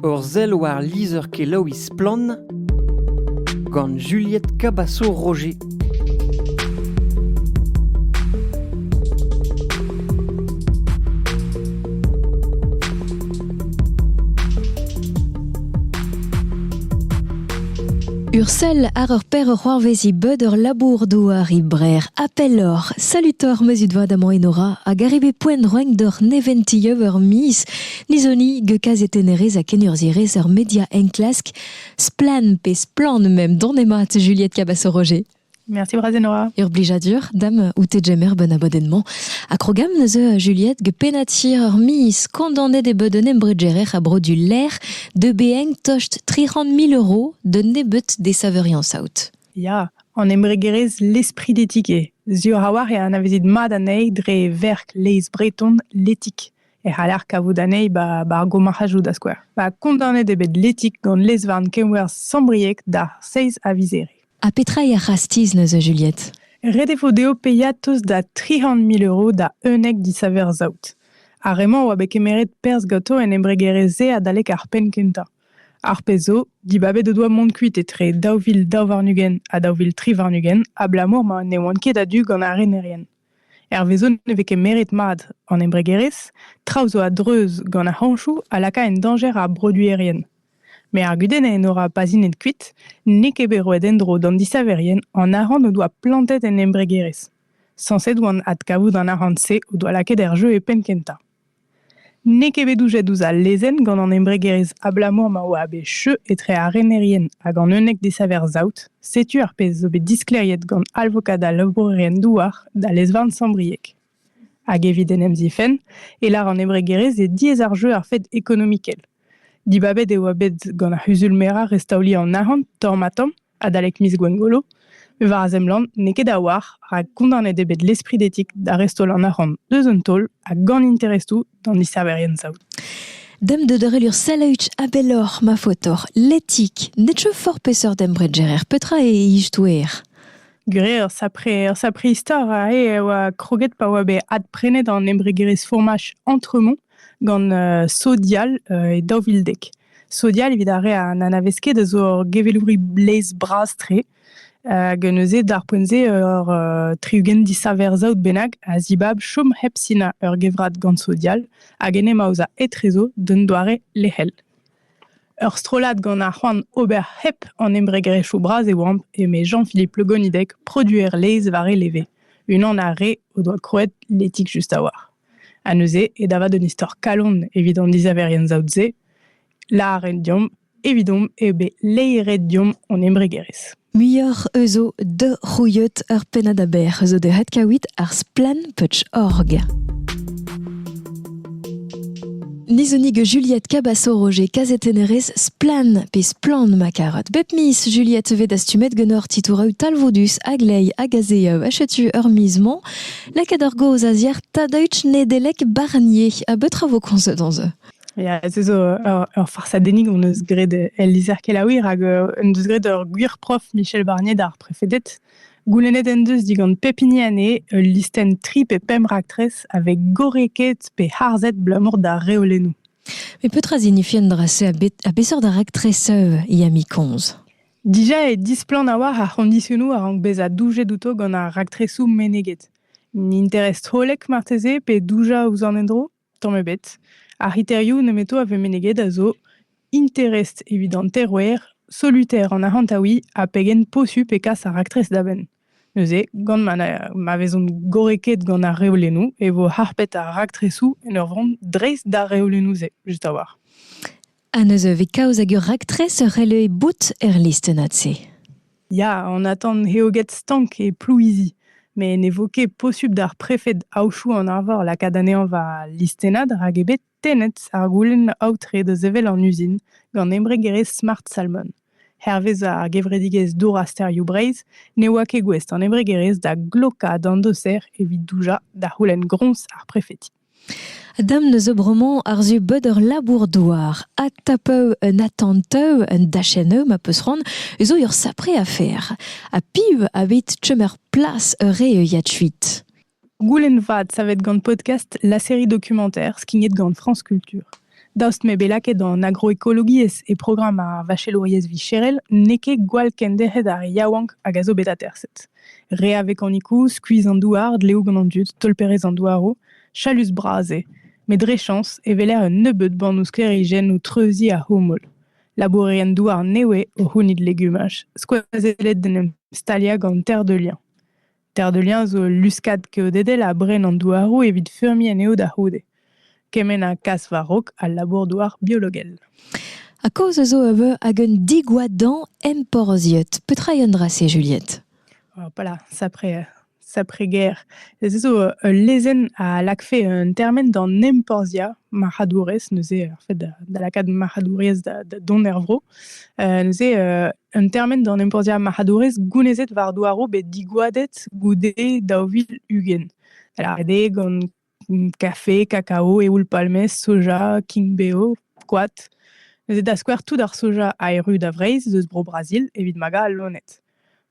Ur sell war lizher-kelaouiñ Splann! gant Juliette Cabaço-Roger. Ursel ar ur per c'hoarvezi beud ur labour douar ibrer appellor salutor meuzut vad amañ enora hag arrive poent roeñ doc'h neventi eur miz Lizoni, geukazetennerez ha kenurzhierez ur media enklask, splann pe splann même don emat Juliette Cabasso-Roger. Merci Brazenora. Ur blijadur dam oute jemer ben abadennement. A krogam neuze Juliette ge penati ur mis kondanet e beu d'un embregerer a bro du ler de beeng tost 30 000 euros d'un nebut des saverians out. Ya, an embregerez l'esprit d'éthique. Sur a war e anavezit mat anezhi dre verk leiz breton l'etik. e c'haller kavout anezhi ba, ba ar gomarc'hajoù da skouer. Ba, kondaonet eo bet Letik gant lezvarn kenwerzh Sambrieg da seizh a vizere. Ha petra eo ar c'hastiz neuze, Juliette? Ret e vo dezho paeañ tost da tri c'hant mil euro da unnek disaver saout. Ar re-mañ a oa bet kemeret perzh ganto en embregerezh-se adalek ar penn kentañ. Ar pezh zo, dibabet o doa mont kuit etre daou vil daou warn-ugent ha daou vil tri warn-ugent abalamour ma ne oant ket a-du gant ar renerien. Hervezo ne vez ket meret mat an embregerezh, traoù zo a-dreuz gant ar c'hañchoù a laka en dañjer ar broduerien. met ar gudenn en ora pazinet kuit n'eo ket bet roet en-dro d'an disaverien an arc'hant o doa plantet en embregerezh. Sañset oant adkavout an arc'hant-se o doa lakaet er jeu e penn kentañ. N'eo ket bet doujet ouzh al lezenn gant an embregerezh abalamour ma oa bet cheu etre ar renerien hag an unnek desaver-saout, setu ar pezh zo bet disklêriet gant alvokad al labourerien-douar da lez-varn Sant-Brieg. Hag evit en em zifenn e lar an embregerezh eo diaes ar jeu ar fed ekonomikel. Dibabet e oa bet gant ar c'huzul-merañ restaoliñ an arc'hant tamm-ha-tamm adalek miz Gwengolo, war a zemlant n'eo ket a-walc'h rak kondaonet eo bet l'esprit d'éthique da restaol an arc'hant eus un taol a gant interestoù d'an dissaverien saout. Dem de dorelur salaütch abelor ma fotor, l'éthique, netcho for pesor dembredgerer petra e istouer. Gure ur sapre, ur sapre istor a e oa kroget pa oa bet adprenet an embregerezh fourmach Entremont gant Sodial e daou vil dek. Sodial, evit ar re a n'anavez ket, a zo ur gevelouri blez bras-tre, hag neuze, d'ar poent-se, ur tri-ugent disaver-saout bennak a zibab chom hep sinañ ur gevrat gant Sodial, hag en em aozañ etrezo d'un doare lec'hel. Ur strollad gant ar c'hoant ober hep an embregerezhioù bras e oamp, eme Jean-Philippe Le Gonidec, produer laezh war e leve, unan ar re o doa krouet l'Éthique Just a War. Ha neuze, ed avat un istor kalon evit an disaverien saout-se, lâret deomp evidomp eo bet laeret deomp hon embregerezh. Muioc'h eus o de rouilhot ur pennad aber zo deuet kawit ar splanputch.org. Nizonig Juliette Cabasso-Roger, kazetennerez splan pe splan ma karotte. Bep mis, Juliette ve dastumet genor titoureu talvoudus a glei hag a zeeu achetu ur mis-mañ Lakaet ar gaoz a-ziàr Tadaüch Nedeleg Barnier. Ha betra vo komzet on se? Ya, ez eus ur, ur farsadennig on eus graet el lizher kelaouiñ rak euh, en deus graet ur gwir prof Michel Barnier d'ar prefeded. Goulennet en deus digant pep hini anezhe ul listenn tri pe pemp raktres avec gorrekaet pe harzet blamour d'ar reolennoù. Mais peut-être signifier un drasser à, bet, à besseur d'un actrice euh, Yami Konz Dija eo displann a-walc'h ar c'hondisionoù a rank bezañ doujet outo gant ar raktresoù meneget. N'interest hollek marteze pe doujañ ouzh an endro? Tamm ebet. Ar c'hriterioù nemeto a vez meneget a zo interest evit an terouer, solitaire an arc'hantaouiñ ha pegen posupl e kas ar raktres da benn. Neuze, gant ma, ma vezont gorrekaet gant ar reolennoù e vo harpet ar raktresoù en ur vont dreist d'ar reolennoù-se, just a-walc'h. Ha neuze e vez kaoz hag ur raktres ur releue bout er listennad-se. Ya, on attend eo get stank e Plouizi. Met ne vo ket posubl d'ar prefed Aochou an Arvor lakaat anezhañ war al listennad rak eo bet tennet ar goulenn aotre da sevel an uzin gant embregerezh Smart Salmon. Hervez ar gevredigezh Dour ha Sterioù Breizh ne oa ket gouest an embregerezh da glokañ d'an doser evit doujañ da c'houlenn groñs ar prefeti. Dam n'eus bremañ àr-zu beud ur labour-douar ha ta peu un atant-eu, un dachenn-eu ma peus c'hoant, zo ur sapre afer. Ha piv a vit chom er plas ur re euiad kuit? Goulenn vat savet gant Podcast la série documentaire skignet gant France Culture. Daoust m'eo bet lakaet an agroekologiezh e programm ar vachelouriezh vicherel, n'eo ket gwall kenderc'het ar yaouank hag a zo bet aterset. Re a vekanikoù, skuizh an douar, dleoù gant an dud, tolperezh an douaroù, chalus bras eo. Met dre chañs e weler un nebeud bannoù sklêrijenn o treuziñ ar c'houmoul. Labourerien-douar nevez o c'hounit legumaj, skoazellet d'en em staliañ gant terre de liañ. Terre de Liens zo ul luskad keodedel a bren an douaroù evit feurmiñ anezho da c'houde. Kement ha kas war-raok al labour-douar biologel. Ha kaoz a zo eus hag un digoadañ emporzhiet. Petra eo un dra-se, Juliette Voilà, saprez-guerre. Ez zo ul lezenn a lakfe un termen d'an emporzhiañ marc'hadourezh, neuze, en fait, da lakaat marc'hadouriezh da, dont er vro. neuze, Un termen d'an emporzhiañ marc'hadourezh gounezet war douaroù bet digoadet goude daou vil ugent. Ret eo gant kafe, kakao, eoul-palmez, soja, king-beo, koad. Neuze da skouer tout ar soja aeru da Vreizh eus Bro-Brazil evit magañ al loened.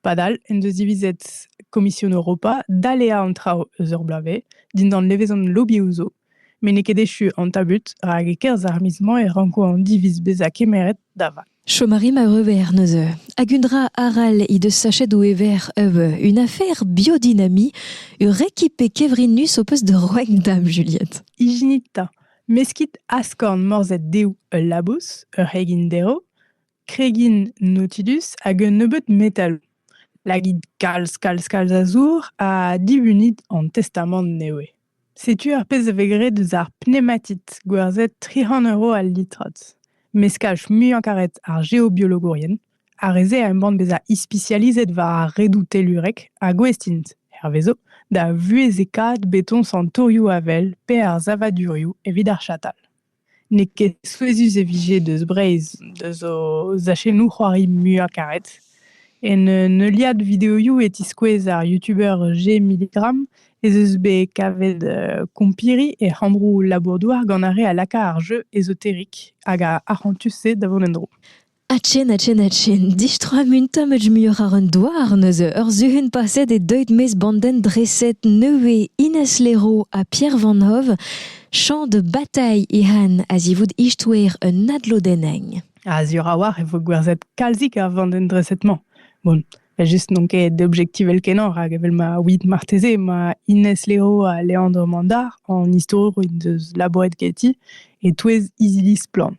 Padal en deus divizet Komision Europa daleañ an traoù eus ur bloavezh dindan levezon lobioù zo. met n'eo ket echu an tabut rak e-kerzh ar miz mañ e ranko an diviz bezañ kemeret da vat. Chom a ri ma euver neuze. Hag un dra arall he deus sachet o ever euh, une affaire biodynamie, ur rekipe kevrinus ho peus da roiñ da'm Juliette. Ijinit ta. Meskit askorn morzhed deou ul labous, ur c'hegin derv, kregin nautidus hag un nebeud metal. Lagit kalz, kalz, kalz a zour ha dibunit an testamant newe. Setu ar pezh a vez graet eus ar pneumatit gwerzhet tri c'hant euro al litrad. Meskaj muiañ karet ar geobiologourien. Ar re-se a embann bezañ ispisializet war ar redoù tellurek ha gouest int, hervezo, da vuhezekaat betoñs an torioù avel pe ar savadurioù evit ar chatal. N'eo ket souezhus e vije deus Breizh deus o zachennoù c'hoari muiañ-karet. En un heuliad videoioù e tiskouez ar youtuber Gmilligram ez eus bet kavet kompiri e c'hambroù labour-douar gant ar re a laka ar jeu ezoterik hag ar arc'hantus-se da vont en-dro. Achen, achen, achen. Distroa munta met muioc'h àr un douar neuze. Ur suhun paset eo deuet mes bandenn dreset nevez Ines Lero ha Pierre Van Hove. Champ de bataille ehan a-zivout istouer un adlodenneñ. A-ziwr a-walc'h e vo gwerzhet kalzik a vandenn dreset-mañ. Bon, Just n'on ket objektivel-kenañ, rak evel ma ouiit marteze emañ Ines Lero ha Leandro Mandar an istorour en deus labouret ganti e-touez izili Splann.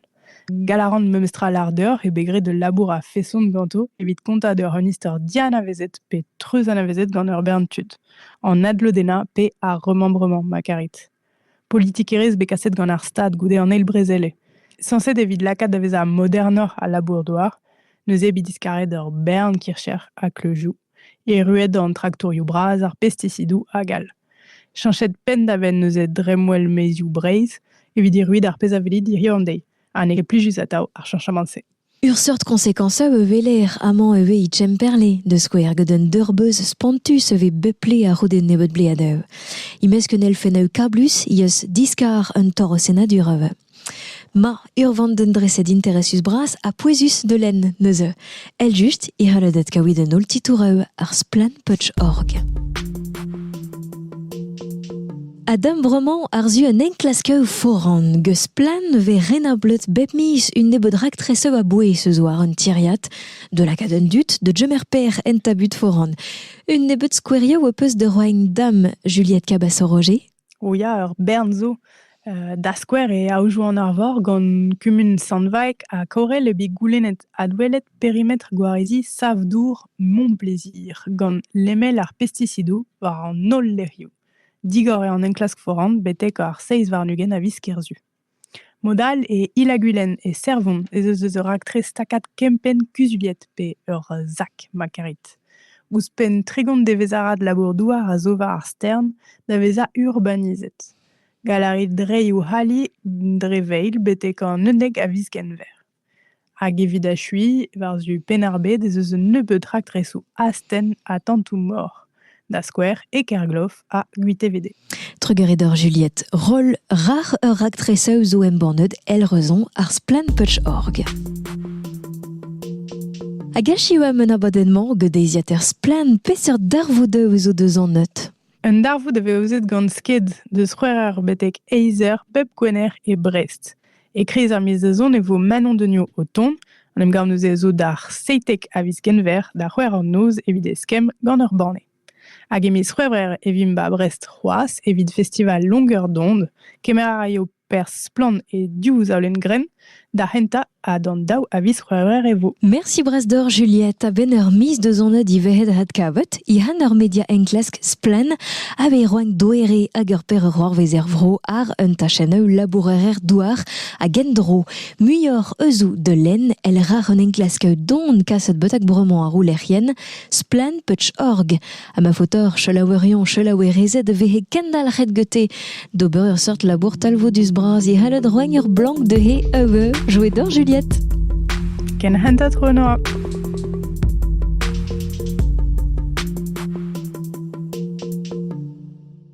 Gall a ran memes tra lardeur eo bet graet ul labour a-feson ganto evit kontañ d'ur un istor dianavezet pe treuzanavezet gant ur bern tud. An adlodennañ pe ar remembrement ma karit. politikerezh bet kaset gant ar Stad goude an eil brezele. Sañset evit lakaat da vezañ modernoc'h al labour-douar, neuze bet diskaret ur bern kircher ha kleuzioù, erruet an traktourioù bras, ar pestisidoù hag all. Chañset penn-da-benn neuze dremmwel maezioù Breizh evit erruet ar pezh a vele diriañ dezhi, ha n'eo ket plijus atav ar chañchamant-se. Ur seurt koñsekañsañ e weler amañ ivez e Kemperle, da skouer, gant un deurbeuz spontus e vez bep ple a-c'houde nebeut bleadeù. E-mesk un elfennoù kablus he eus diskar un torr-senadur. Ma, ur vandenn-dreset interesus-bras ha pouezus da lenn neuze. Eljust e c'helled kavout en holl titouroù ar Splann Potch.org. A-dem bremañ àr-zu un enklaskaoù foran geus splann e vez renablet bep miz un nebeud raktresoù a-bouez eus war un tiriad, de lakaat an dud da gemer per en tabut foran. Un nebeud skouerioù ho peus da roiñ dam Juliette Cabasson-Roger. O ya, ur bern zo. Euh, da skouer e aojoù an Arvor gant kumun Sant-Vaeg ha Kaorel eo bet goulennet adwelet perimetr gwareziñ sav-dour Montplaisir gant lemel ar pestisidoù war an holl lec'hioù. Digor eo an enklask foran betek ar seizh warn-ugent a viz Kerzu. Mod-all e Illagwilen e Servon ez eus eus ur raktres takad kempenn kuzuliet pe ur zak ma karit. Ouzhpenn tregont devezh-arad labour-douar a zo war ar stern da vezañ urbanizet. Gall a rit reiñ ho ali dre veil betek an unnek a viz Genver. Hag evit achuiñ, war-zu Penn-ar-Bed ez eus un nebeud raktresoù astenn ha tantoù-mor, da skouer e Kergloff ha Gwitevede. Trugarez doc'h Juliette. Roll rac'h ur raktresaoù zo embannet el Roazhon, ar Splaenputsch.org. Hag achu am un abadenn-mañ gant deiziataer Splann! Peseurt darvoud zo deus an neud? Un darvoud veuzet gant sked deus c'hwec'her betek eizh eur pep gwener e Brest. E-kreiz ar miz da zont e vo Manon Degnaud o tont. En em gav neuze zo d'ar seitek a viz Genver da c'hwec'h an noz evit eskemm gant ur banne. Hag e miz C'hwevrer e vimp ba Brest c'hoazh evit festival Longueur d'onde. Kemer a raio perzh splann e div zaolenn-grenn da hentañ ha d'an daou a viz C'hwevrer e vo. Merci bras deoc'h Juliette a-benn ur miz deus an divezhet adkavet Ihan ur media enklask splann aveit roenk doere hag ur per roarvez er vro àr un tachennoù labourer-douar hag endro muioc'h eusou da lenn el rar un enklask don kaset betak bremañ ar roulec'hienn splann.org ha ma faotr chelaouerion chelaouerezed vehe kendalc'het gete d'ober ur seurt labour talvoudus bras e c'halled roiñ ur blank dezhe eve jouet doc'h Juliette. Ken hentet Renoa.